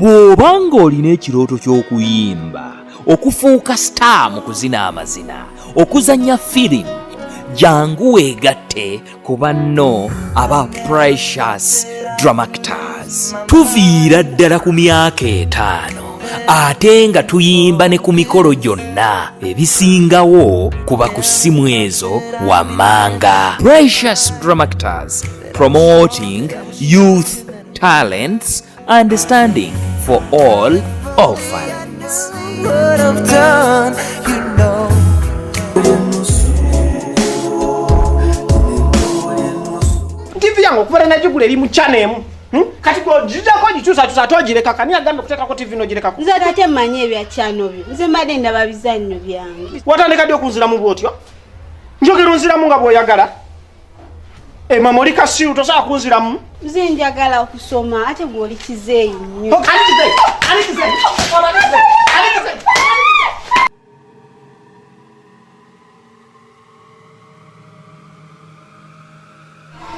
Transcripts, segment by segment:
bw'oba ng'olina ekirooto ky'okuyimba okufuuka star mu kuzina amazina okuzannya firimu jangu weegatte ku banno aba precious dramactors tuviira ddala ku myaka etaano ate nga tuyimba ne ku mikolo gyonna ebisingawo kuba ku ssimu ezo wammanga precious dramactors promoting youth talents understanding for all orphans. tivi yange okubera nagigula eri mu chana emu hmm? kati gojijako ogikyusakyusa ate ogireka kani agambye okuteekako tivi nogirekako nze tate mmanyi ebya chano byo nze mbadde ndaba bizannyo byange watandika ddi okunziramu bwotyo njogera onziramu nga bwoyagala Emma moli kasiru tosobola kunziramu. Nze njagala okusoma ate gwe oli kizeeyi nnyo.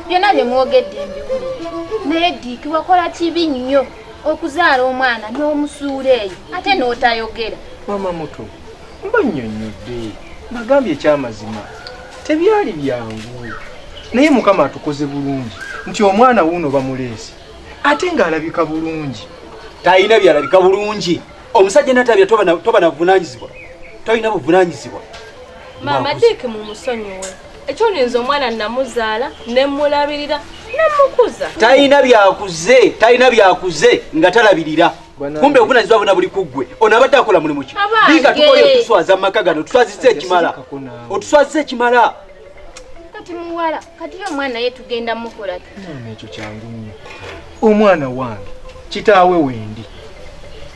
Byonna bye mwogedde mbiwulire naye Diiki wakola kibi nnyo okuzaala omwana n'omusuula eyo ate n'otayogera. Mama muto mbannyonnyodde nagambye ekyamazima tebyali byangu naye mukama atukoze bulungi nti omwana wuuno bamuleesi ate ng'alabika bulungi talina byalabika bulungi omusajja natabya toba navunanyizibwa tolina buvunanyizibwa maama diiki mu musonyiwe ekyolinza omwana namuzaala nemulabirira nemukuza talina byakuze talina byakuze nga talabirira kumbe obunazibwa bona buli kuggwe ono abadde akola mulimu ki biga tukoye otuswaza mu maka gano otuswazizza ekimala otuswazizza ekimala kati muwala kati ye omwana ye tugenda mukola ekyo kyangu nnyo omwana wange kitaawe wendi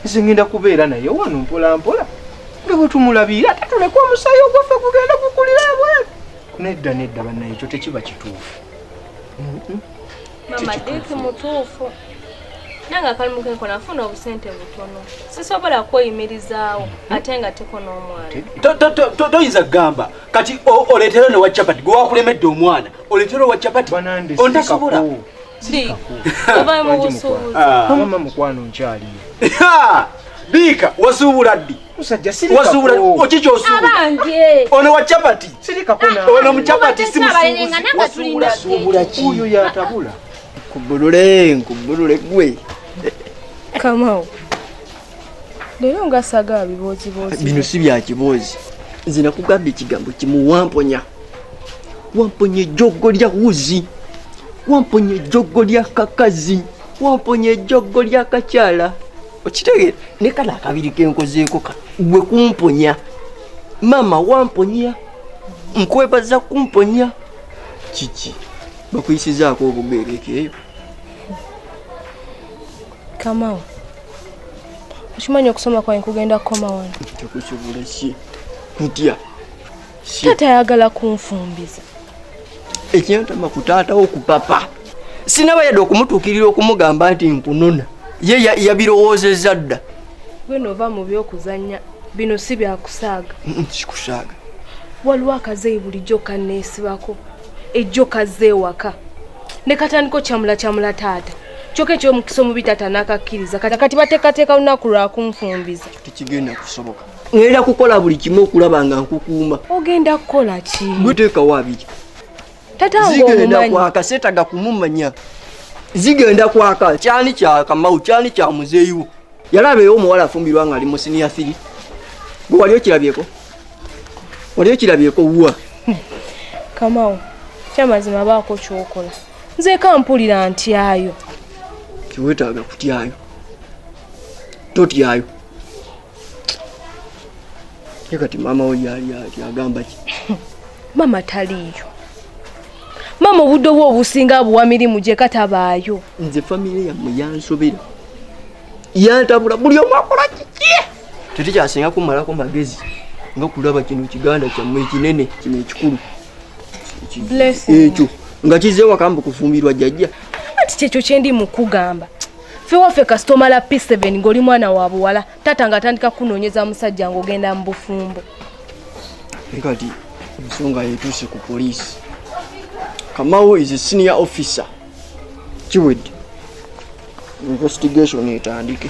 nze ngenda kubeera naye wano mpola mpola nga bwe tumulabiira ate tuleke omusaayi ogwaffe gugenda gukulira abwere nedda nedda bannaye ekyo tekiba kituufu mama diki mutuufu nange akalimu kenko nafuna obusente butono sisobola kweyimirizaawo ate nga teko n'omwana toyinza kugamba kati oleetero ne wa capati gwe wakulemedde omwana oleetero wa capati ontasobola ovayo mu busuubuzi ah. mama mukwano nkyaliyo biika wazuubula ddi musajja sirika wazubula oki kyosubula abange ono wa chapati sirika kuna ono mu chapati si musubuzi wasuula subula ki uyo ya tabula kubulule kubulule gwe kamao lero nga saga bibozi bozi bino si bya kibozi nze nakugambye ekigambo kimu wamponya wamponya ejjoggo lya wuzi wamponya ejjoggo lya kakazi wamponya ejjoggo lya kakyala okitegere ne kano akabiri kenkozeeko ka gwe kumponya maama wamponya nkwebaza kumponya kiki bakuyisizaako obugeereeko eyo kamawo okimanyi okusoma kwange kugenda kukoma wano tekusobola si kutya taata ayagala kunfumbiza ekyantama ku taata wo ku papa sinaba yadde okumutuukirira okumugamba nti nkunona ye yabirowoozezza dda gwena ova mu byokuzannya bino si byakusaaga kikusaaga waliwo akazeeyi bulijjo kanneesibako ejjo kazze ewaka ne katandiko kyamula kyamula taata kyoka ekyomukisa omubi taata n'akakkiriza kati kati bateekateeka lunaku lwakunfumbiza tekigenda kusoboka ngenda kukola buli kimu okulaba nga nkukuuma ogenda kukola ki guteekawo abiri zigenda kwaka setaga kumumanya zigenda kwaka kyani kyakamau kyani kya muzeeyiwo yalabeewo omuwala afumbirwa nga ali mu siniya thiri gwe wali okirabyeko wali okirabyeko wuwa kamau kyamazima baako kyokola nzeeka mpulira ntyayo tiwetaaga kutyayo totyayo ye kati maama wo yali ati agamba ki maama taliiyo maama obudde obwo obusinga abuwa mirimu gye katabaayo nze famire yammwe yansobera yantabula buli omu akola kiki tetukyasinga kumalako magezi nga kulaba kino kiganda kyammwe ekinene kino ekikulu ekyo nga kizze wakamba okufumbirwa jjajja kati kyekyo kyendi mukugamba ffe waffe kasita omala p7 ng'oli mwana wa buwala taata nga atandika kukunoonyeza musajja ng'ogenda mu bufumbo naye kati ensonga yetuuse ku poliisi kamawo is a senior officer kiwedde investigation etandike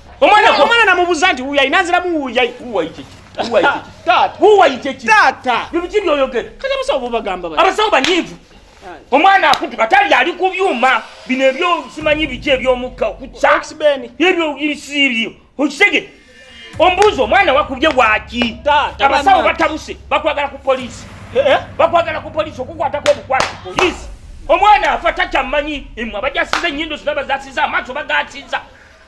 Omwana kwa mwana namubuza nti uya inazira mu uya uwa ichi. Uwa ichi. Tata. Uwa ichi. Tata. Bibi kibi oyogera. Kaza musa obo bagamba ba. Abasawo banyivu. Omwana akutuka tali ali ku byuma bino ebyo simanyi biki ebyomukka okutsa. Sibeni. Ebyo ibisibi. Okisege. Ombuzo omwana wakubye waki. Tata. Abasawo batabuse bakwagala ku police. Eh, eh? Bakwagala ku police okukwata ko bukwati police. Omwana afa takyamanyi. Emwa bajasize nyindo zinabaza siza amaso bagatiza.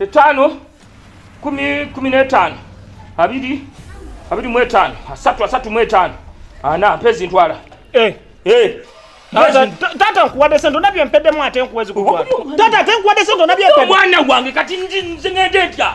etaano kumi kumi n'etaano abiri abiri mu etaano asatu asatu mu etaano ana mpa ezintwala eh. eh. taata nkuwadde sente olabye empeddemu ate nkuwa ezikutwala taata ate nkuwadde sente olabye empeddemu omwana wange kati nze ngende ntya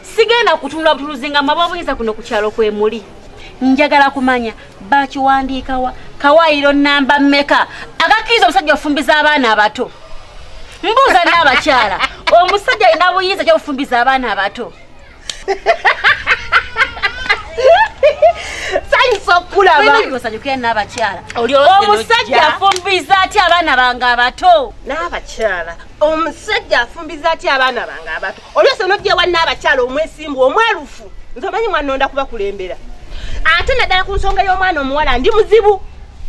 sigenda kutunula butuluzi nga maba obuyinza kuno ku kyalo kwe muli njagala kumanya bakiwandiikawa kawaayiro namba mmeka agakkiriza omusajja ofumbiza abaana abato mbuuza n'abakyala omusajja alina buyinza kya bufumbiza abaana abato sanyusa okukulabasanyukira n'abakyala omusajja afumbiza aty abaana bange abato n'abakyala omusajja afumbiza aty abaana bange abato oluusi onojja ewa nnaabakyala omwesimbu omwerufu nze omanyi mwanonda kubakulembera ate naddala ku nsonga y'omwana omuwala ndi muzibu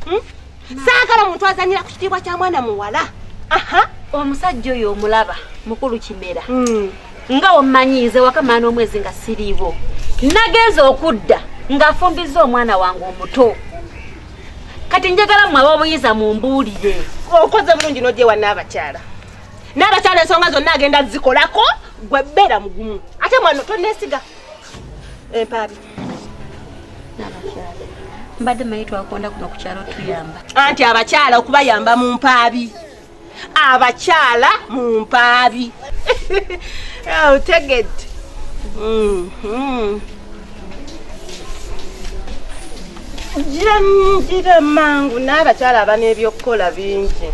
hmm? saagala muntu azanyira ku kitiibwa kya mwana muwala aha omusajja oyo omulaba mukulu kimera hmm. nga omanyiize wakamaana omwezi nga siriibo nagenza okudda ng'afumbizza omwana wange omuto kati njagala mwe ab'obuyinza mumbuulire okoze bulungi n'ogyewa n'abakyala n'abakyala ensonga zonna agenda zikolako gwe beera mugumu ate mwano tonesiga empaabi mbadde manyi twakonda kuno ku kyalo tuyamba anti abakyala okubayamba mu mpaabi abakyala mu mpaabi otegedde oh, mm-hmm. janjira mangu n'abakyala aba n'ebyokukola bingi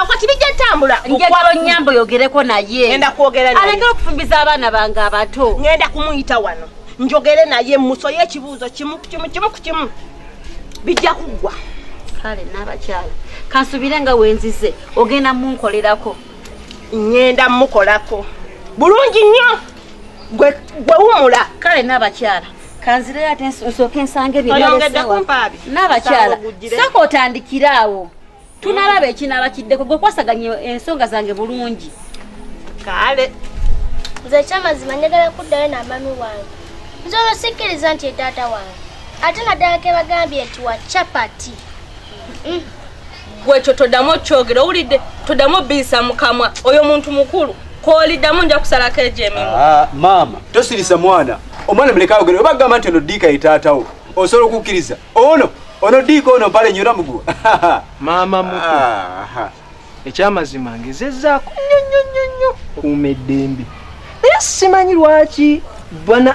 kati bijja tambula njagala onyamba oyogereko naye enda kwogera naye alekera okufumbiza abaana bange abato ngenda kumuyita wano njogere naye musoye ekibuuzo kimu kimu kimu ku kimu bijja kuggwa kale n'abakyala kansubire nga wenzize ogenda munkolerako ngenda mukolako bulungi nnyo gwe wumula kale n'abakyala kanzireyo ate nsooke nsange byeoyongeddekumpaabi n'abakyala sooka otandikire awo tunalaba ekinaaba kiddeko gwe kwasaganya ensonga zange bulungi kale nze ekyamazima njagala kuddayo namami wange nze olwo sikkiriza nti etaata wange ate naddala kebagambye nti wa chapati mm. gwekyo todamu okyogera owulidde todamu obiyisa mukamwa oyo muntu mukulu koliddamu nja kusalako egyo emimu ah, maama tosirisa mwana omwana muleka ayogere oba gamba nti ono diika ye taatawo osobola okukkiriza ono ono diika ono mpale nyora muguwa maama muto ekyamazima ngezezaako nnyo nnyo nnyo nnyo okuuma eddembe naye simanyi lwaki bana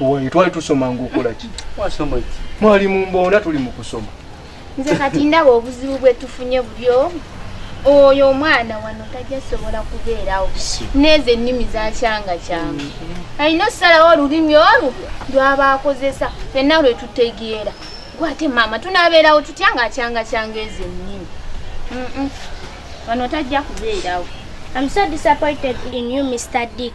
Owaye twali tusoma ngokola ki? Wasoma ki? Mwali mu mbona tuli mu kusoma. Nze kati ndaba obuzibu bwe tufunye bubyo. Oyo omwana wano tajja sobola kubeerawo. Neze nnimi za kyanga kyanga. Alina okusalawo olulimi olwo lwaba akozesa fenna lwe tutegeera. Gwate maama tunabeerawo tutya nga akyanga kyanga ezo ennimi. Wano tajja kubeerawo. I'm so disappointed in you, Mr. Dick.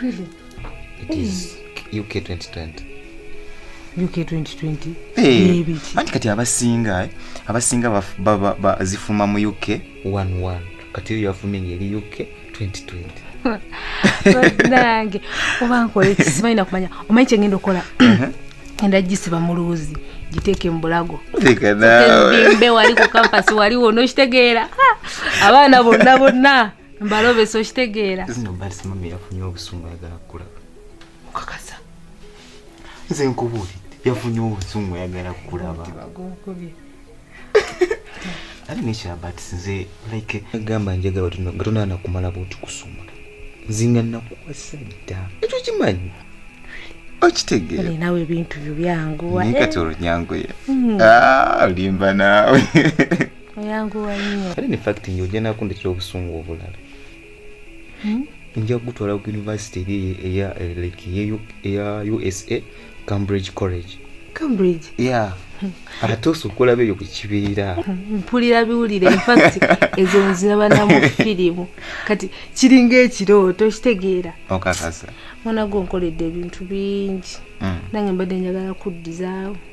Really? It is UK 2020. UK 2020. Hey. Anti kati abasinga eh? abasinga bazifuma mu UK 11 kati eyo yafumye ngeri UK 2020. nange oba nkola ekisimanyi nakumanya omanyi kyengenda okukola uh-huh. enda gisiba mu luuzi giteeke mu bulago mbe wali ku kampasi wali wona okitegeera abaana bonna bonna mbalobesa okitegeera zino balisi mami yafunye obusungu ayagala kukulaba okakasa nze nkubuulidde yafunye obusungu ayagala kukulaba ali nekyabat nze like agamba njagala nga tonaana kumala bwoti kusumula nzinga nakuwasa dda ekyo kimanyi okitegeera nawe ebintu byo byanguwa naye kati olunyanguye hmm. ah, olimba naawe oyanguwa nnyo kale ne fact nyo ojja nakundikira obusungu obulala hmm? nja kugutwala ku yunivasite eri eya like eya usa cambridge college cambridge yeah ate osobola beeyo ku kibeera mpulira biwulire infact ezo nziraba namu firimu kati kiringa ekirooto kitegeera okakasa mwana gwe nkoledde ebintu bingi hmm. nange mbadde njagala kuddizaawo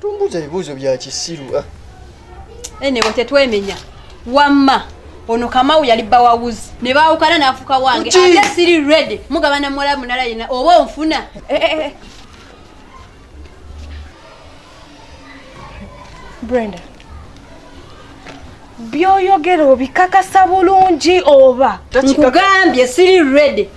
Tumbuza ebibuuzo bya kisiru. Ah. Anyway, tetwemenya. Wamma. Ono Kamau yali bba wa wuzi. Ne baawukana n'afuka wange. Ate siri ready. Mugabana muwala munala yena oba onfuna. Eh, eh, eh. Brenda. Byoyogera obikakasa bulungi oba? Nkugambye siri ready.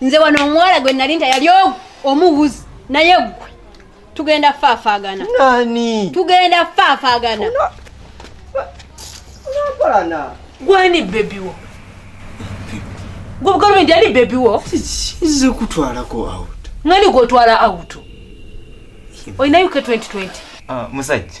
nze wano omuwala gwe nali nta yali omuwuzi naye gwe tugenda faafagana nani tugenda faafagana unampalana gwani bebiwo gwobugalo ndi ali bebiwo kize kutwalako out mwani gwotwala out olinayo ke 2020 ah, musajja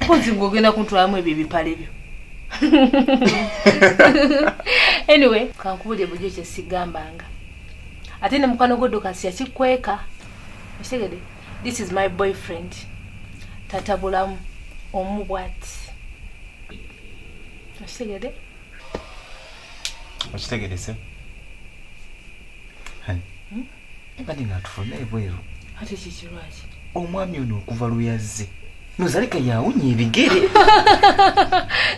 mpozi gwe ogenda kuntwalamu ebyo ebipale byo anyway kankubulire bujo kyesigambanga ate ne mukwano gwodokasi yakikweka okitegede this is my boyfriend tatabulamu omu bwati okitegede okitegedese Mbadde nga tufuna ebweru. Ate kiki lwaki? Omwami ono okuva lwe yazze nozalika yawunya ebigere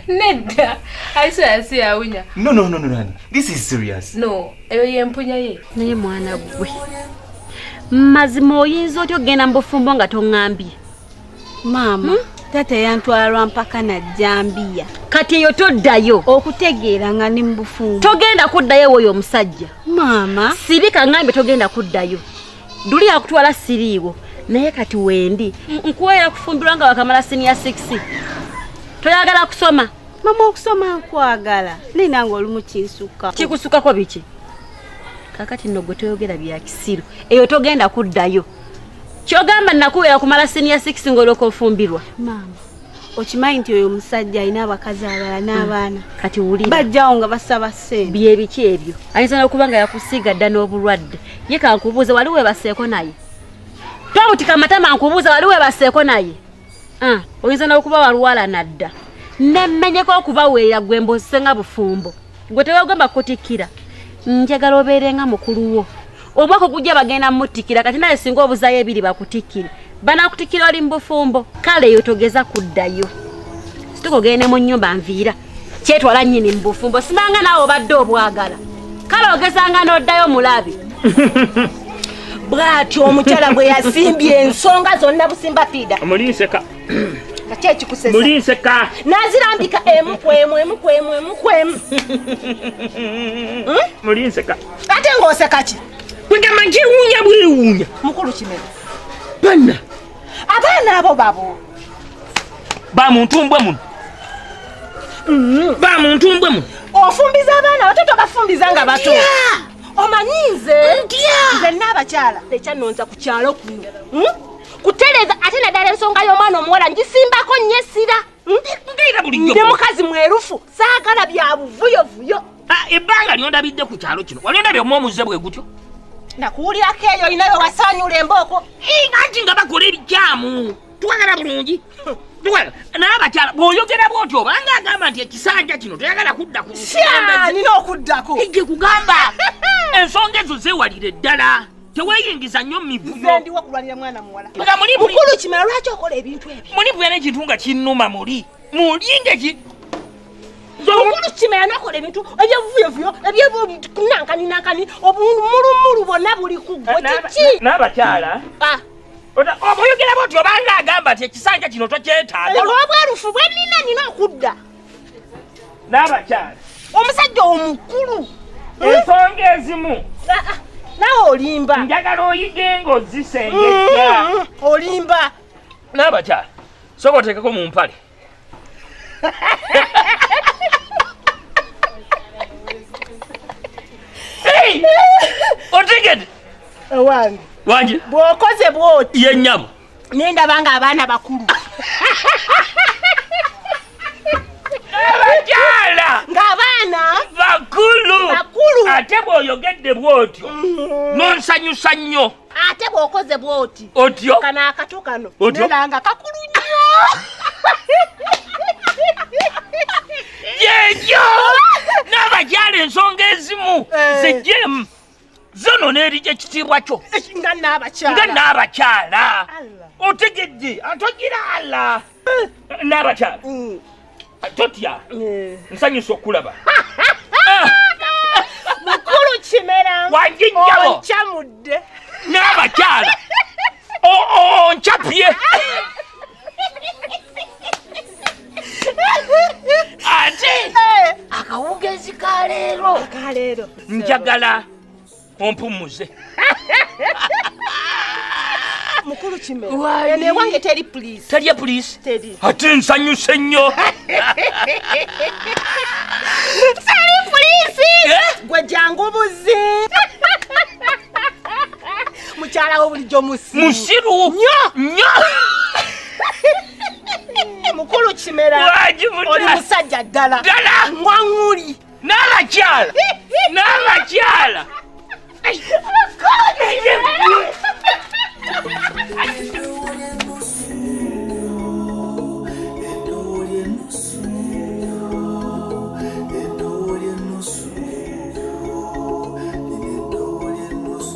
nedda aisaya si yawunya no no no no this is serious no eyo yempunya ye naye mwana gwe mazima oyinza otya okugenda mu bufumbo nga toŋŋambye maama hmm? taata yantwalwa mpaka na jambiya kati eyo toddayo okutegeera nga ni mubufumbo togenda kuddayo woyo omusajja maama sirika ngambe togenda kuddayo duli yakutwala siriiwo naye kati wendi nkuwera kufumbirwa nga wakamala siniya 6 toyagala kusoma mama okusoma nkwagala naye nange oli mukinsukka kikusukkako biki kakati nno gwe toyogera bya kisiru eyo togenda kuddayo kyogamba nakubeera kumala senior six ngoloka ofumbirwa maama okimanyi nti oyo omusajja alina abakazi abalala mm. n'abaana kati wulira bajjawo nga basaba sente byebiki ebyo ayinza n'okuba nga yakusiiga dda n'obulwadde ye kankubuuza wali webaseeko naye tomutika amatama nkubuuza wali webaseeko naye ah, oyinza n'okuba walwala nadda nemmenyeko okubaweera gwe mbozisenga bufumbo gwe tewagamba kutikkira njagala obeere nga mukulu wo omwaka ogujja bagenda mutikkira kati naye singa obuzayo ebiri bakutikkire banakutikkira oli mubufumbo kale eyo togeza kuddayo situka ogende mu nyumba nviira kyetwala nyini mubufumbo sinanga naawe obadde obwagala kale ogezanga n'oddayo mulabi bwatyo omukyala bwe yasimbye ensonga zonna busimba fiida mulinseka nazirambika emu kwemu emu kwemu emu kwemu mulinseka hmm? ate ng'oseka ki kwegamba nkiwuunya bwewuunya mukulu kimera banna abaana abo babo ba muntu mbwe muno hmm. ba muntu mbwe muno ofumbiza abaana bato tobafumbiza nga bato omanyi nze nze naabakyala ekyanonza ku kyalo kuno hmm? kutereeza ate naddala ensonga y'omwana omuwala ngisimbako nnyo essira hmm? ndi mukazi mwerufu saagala bya buvuyovuyo ah, ebbanga lyondabidde ku kyalo kino wali ondabye omu omuze bwe gutyo nakuwulirako eyo olinawe wasaanyula embooko anti nga bakola ebikyamu twagala bulungi naye abakyala bw'oyogera bw'otyo obanga agamba nti ekisanja kino toyagala kudda ku nina okuddako ejje kugamba ensonga ezo zeewalire ddala teweyingiza nnyo mumivuyoendiwo kulwanira mwana muwala nga muli mukulu kimala lwaki okola ebintu ebyo muli buyana ekintu nga kinnuma muli muli ngeki mukulu kimala nakola ebintu ebyevuyovuyo ebyenankani nankani obumulumulu bonna buli kugwe kiki n'abakyala ah. oboyogera bwoti obanga agamba ti ekisanja kino tokyetaaga olw'obwerufu bwe nina nina okudda n'abakyala omusajja omukulu ensonga ezimu ah, ah, nawe olimba njagala oyige nga ozisengejja mm, olimba n'abakyala soka oteekeko mu mpale otegede wange wange bwokoze bwoti ye nyabo nendaba nga abaana bakulu abakyala nga abaana bakulu bakulu ate bwoyogedde bwotyo mm. nonsanyusa nnyo ate bwokoze bwoti otyo kano akato kano nelanga kakulu nnyo yekyo n'abakyala ensonga ezimu eh. zijemu zono n'erija ekitiibwa kyo nga n'abakyala otegedde antogira ala n'abakyala mm. totya eh. nsanyusa okulaba mukulu kimera wanjijjabo oncamudde n'abakyala onchapye ate eh. akawugezi ka leero njagala ompumuze mukulu kime eno ewange teri pulisi teri pulisi teri ate nsanyuse nnyo teri pulisi eh? gwe jangu buzi mukyala wo bulijjo musiru musiru nyo nyo mukulu kimera oli musajja ddala ddala ngwaŋuli n'abakyala n'abakyala